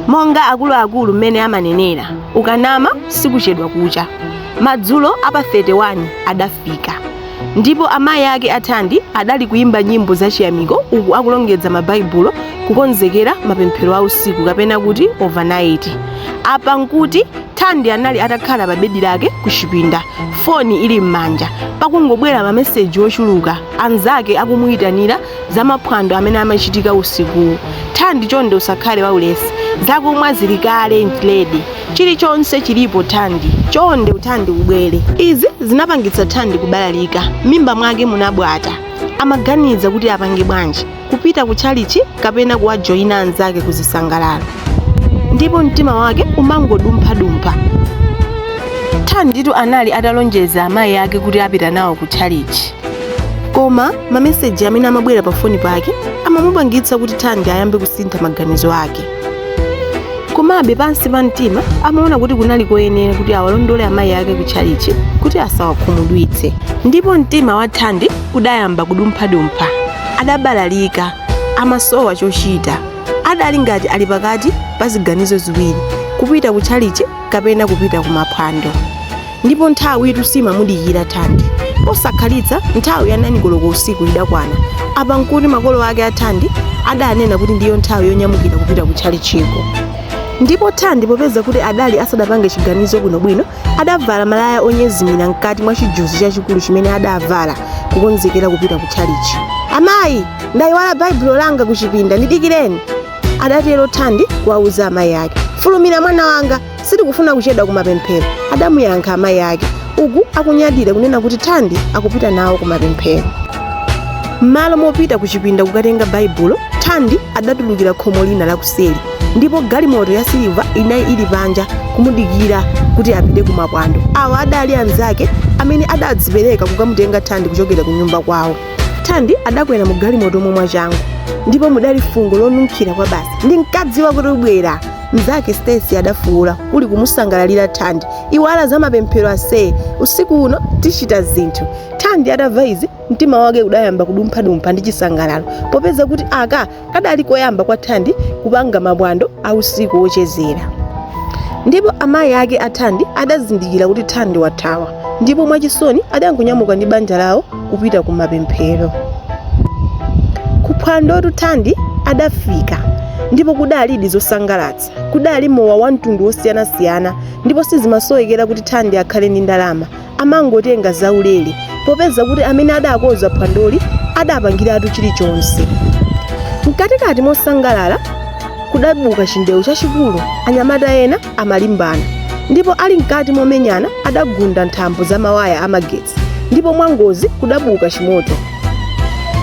monga akuluakulu mmene amanenera ukanama sikuchedwa kucha madzulo apa 31 adafika ndipo amayi ake a thandi adali kuyimba nyimbo zachiyamiko uku akulongedza mabaibulo kukonzekera mapemphero a usiku kapena kuti overnight apa nkuti thandi anali atakhala pa bedi lake ku chipinda foni ili m'manja pakungobwera mameseji ochuluka anzake akumuyitanira za maphwando amene amachitika usikuwu thandi chonde usakhale waulesi zakumwa zili kale zili ready chilichonse chilipo thandi chonde thandi ubwere izi zinapangitsa thandi kubalalika mimba mwake munabwata amaganiza kuti apange bwanji kupita ku tchalichi kapena kuwajoyina anzake kuzisangalalo ndipo mtima wake umangodumphadumpha thanditu anali atalonjeza amayi ake kuti apita nawo ku tchalichi koma mameseji amene amabwera pa foni pake amamupangitsa kuti thandi ayambe kusintha maganizo ake komabe pansi pa mtima amaona kuti kunali koyenera kuti awalondole amayi ake ku tchalichi kuti asawakhumudwitse ndipo mtima wa thandi udayamba kudumphadumpha adabalalika amasowa chochita adali ngati ali pakati pa ziganizo ziwiri kupita ku tchalichi kapena kupita ku maphwando ndipo nthawitu simamudikirira thandi posakhalitsa nthawi ya 9 koloko usiku idakwana apa nkuti makolo ake a thandi adanena kuti ndiyo nthawi yonyamukira kupita ku tchalitchiko ndipo thandi popeza kuti adali asadapange chiganizo bwinobwino adavala malaya onyezimira mkati mwa chijuzi chachikulu chimene adavala kukonzekera kupita ku tchalitchi amayi ndayiwala baibulo langa kuchipinda ndidikireni adatero thandi kuwauza amayi ake fulumira mwana wanga sitikufuna kuchedwa kumapemphero adamuyankha amayi ake uku akunyadira kunena kuti thandi akupita nawo kumapemphero m'malo mopita ku chipinda kukatenga baibulo thandi adatulukira khomo lina lakuseri ndipo galimoto ya siliva inali ili panja kumudikira kuti apite ku maphwando awa adali anzake amene adadzipereka kukamutenga thandi kuchokera ku nyumba kwawo thandi adakwera mu galimoto mo mwachangu ndipo mudali fungo lonunkhira kwabasi ndinkadziwa kuti ubwera Mnzake Stacy adafuula, uku akumusangalalira Thandi. Iwala za mapemphero ase. Usiku uno tichita zinthu. Thandi atamva izi, mtima wake udayamba kudumphadumpha ndi chisangalalo popeza kuti aka kadali koyamba kwa Thandi kupanga maphwando a usiku wochezera. Ndipo amayi ake a Thandi adazindikira kuti Thandi wathawa ndipo mwachisoni adangonyamuka ndi banja lawo kupita ku mapemphero kuphwandotu thandi adafika ndipo kudalidi zosangalatsa kudali mowa wa mtundu wosiyanasiyana ndipo sizimasowekera kuti thandi akhale ndi ndalama amangotenga zaulere popeza kuti amene adakonza phwandoli adapangiratu chilichonse mkatikati mosangalala kudabuka chindewu chachikulu anyamata ena amalimbana ndipo ali mkati momenyana adagunda nthambo za mawaya amagetsi ndipo mwangozi kudabuka chimoto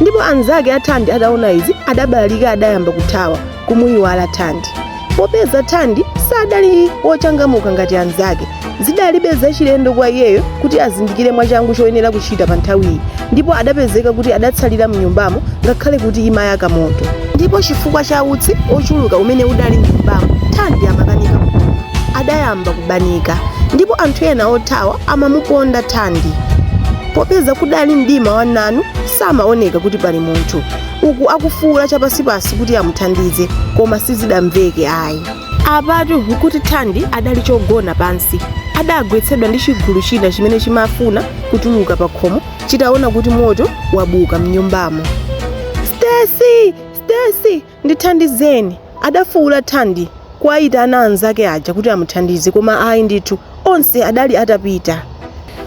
ndipo anzake a thandi adaona izi adabalalika adayamba kuthawa kumuyiwala thandi popeza thandi sadali wochangamuka ngati anzake zidali zachilendo kwa iyeyo kuti azindikire mwachangu choyenera kuchita pa nthawiyi ndipo adapezeka kuti adatsalira mnyumbamo ngakhale kuti imayaka moto Ndipo chifukwa cha utsi ochuluka umene udali mnyumbamo, Thandi amakanika kupuma. Adayamba kubanika ndipo anthu ena othawa amamuponda Thandi. Popeza kudali mdima wa nanu samaoneka kuti pali munthu, uku akufuula chapansipansi kuti amuthandize koma sizidamveke ayi. Apatu nkuti Thandi adali chogona pansi. Adagwetsedwa ndi chigulu china chimene chimafuna kutuluka pakhomo chitaona kuti moto wabuka mnyumbamo stacy stacy ndithandizeni adafuula thandi kuwayitana anzake aja kuti amuthandize koma ayi ndithu onse adali atapita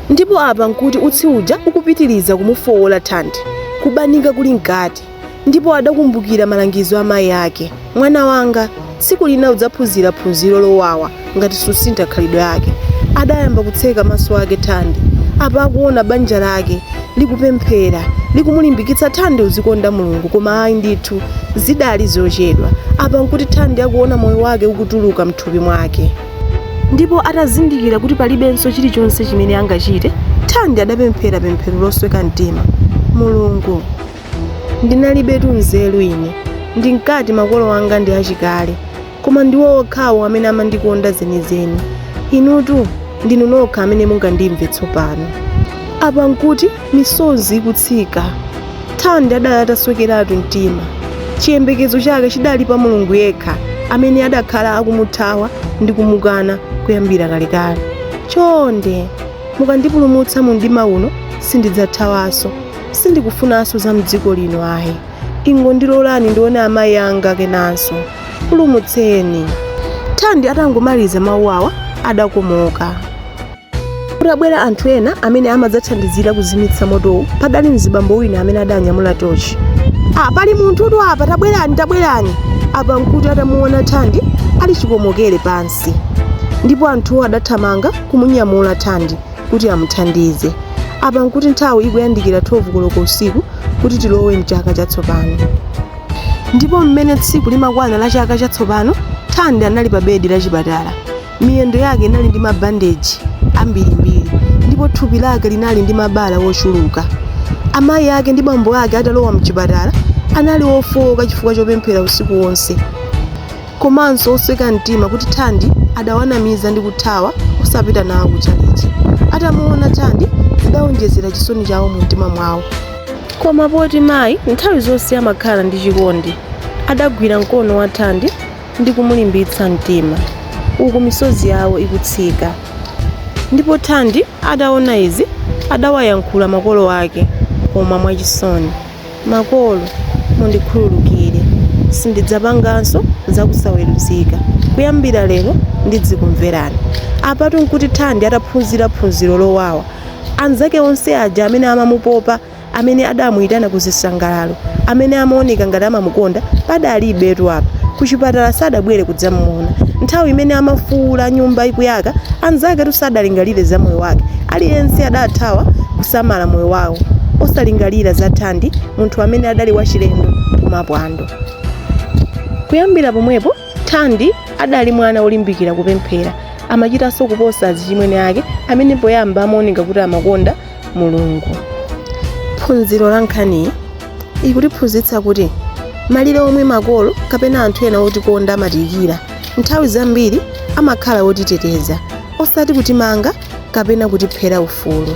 ndipo apa nkuti utsi uja ukupitiriza kumufowola thandi kubanika kuli mkati ndipo adakumbukira malangizo a mayi ake mwana wanga tsiku lina udzaphunzira phunziro lowawa ngati susintha khalidwe lako adayamba kutseka maso ake thandi apa akuona banja lake likupemphera likumulimbikitsa thandi uzikonda mulungu koma ayi ndithu zidali zochedwa apa nkuti thandi akuona moyo wake ukutuluka mthupi mwake ndipo atazindikira kuti palibenso chilichonse chimene angachite thandi adapemphera pemphero losweka mtima mulungu Ndinalibetu nzeru ine. Ndinkati makolo anga ndi achikale, koma ndiwo okhawo amene amandikonda zenizeni. Inutu ndinu nokha amene mungandimve tsopano. Apa n'kuti misozi ikutsika. Thandi adali ataswekeratu mtima. Chiyembekezo chake chidali pa Mulungu yekha amene adakhala akumuthawa ndi kumukana kuyambira kalekale. Chonde, mukandipulumutsa mu mdima uno, sindidzathawanso. sindikufunanso za mdziko lino ayi ingondilolani ndione amayi anga kenanso ndipulumutseni thandi atangomaliza mawu awa adakomoka kutabwera anthu ena amene amadzathandizira kuzimitsa motowu padali mzibambo wina amene adanyamula tochi ah, pali munthutu apa tabwerani tabwerani apa nkuti atamuona thandi ali chikomokere pansi ndipo anthuwo adathamanga kumunyamula thandi kuti amuthandize. Apa n'kuti nthawi ikuyandikira 12 koloko usiku kuti tilowe m'chaka chatsopano. Ndipo mmene tsiku limakwana la chaka chatsopano, Thandi anali pa bedi la chipatala. Miyendo yake inali ndi mabandeji ambirimbiri ndipo thupi lake linali ndi mabala ochuluka. Amayi ake ndi bambo ake atalowa m'chipatala, anali ofooka chifukwa chopemphera usiku wonse. komanso osweka mtima kuti Thandi adawanamiza ndi kuthawa osapita nawo ku tchalitchi. Atamuona Thandi zidaonjezera chisoni chawo mumtima mwawo. Koma poti mayi nthawi zonse amakhala ndi chikondi, adagwira mkono wa Thandi ndi kumulimbitsa mtima uku misozi yawo ikutsika. Ndipo Thandi ataona izi adawayankhula makolo ake koma mwachisoni. Makolo, mundikhululukire. Sindidzapanganso zakusaweruzika. Kuyambira lero ndidzikumverani. Apatu n'kuti Thandi ataphunzira phunziro lowawa. Anzake onse aja amene amamupopa, amene adamuitana ku zisangalalo, amene amaoneka ngati amamukonda, padalibetu apa. Kuchipatala sadabwere kudzamuona. Nthawi imene amafuula nyumba ikuyaka, anzaketu sadalingalire za moyo wake. Aliyense adathawa kusamala moyo wawo, osalingalira za Thandi, munthu amene adali wachilendo kumapwando. Kuyambira pomwepo, Thandi adali mwana wolimbikira kupemphera. Amachitanso kuposa azichimwene ake amene poyamba amaoneka kuti amakonda Mulungu. Phunziro la nkhaniyi ikutiphunzitsa kuti malire omwe makolo kapena anthu ena otikonda amatiikira, nthawi zambiri amakhala otiteteza, osati kutimanga kapena kutiphera ufulu.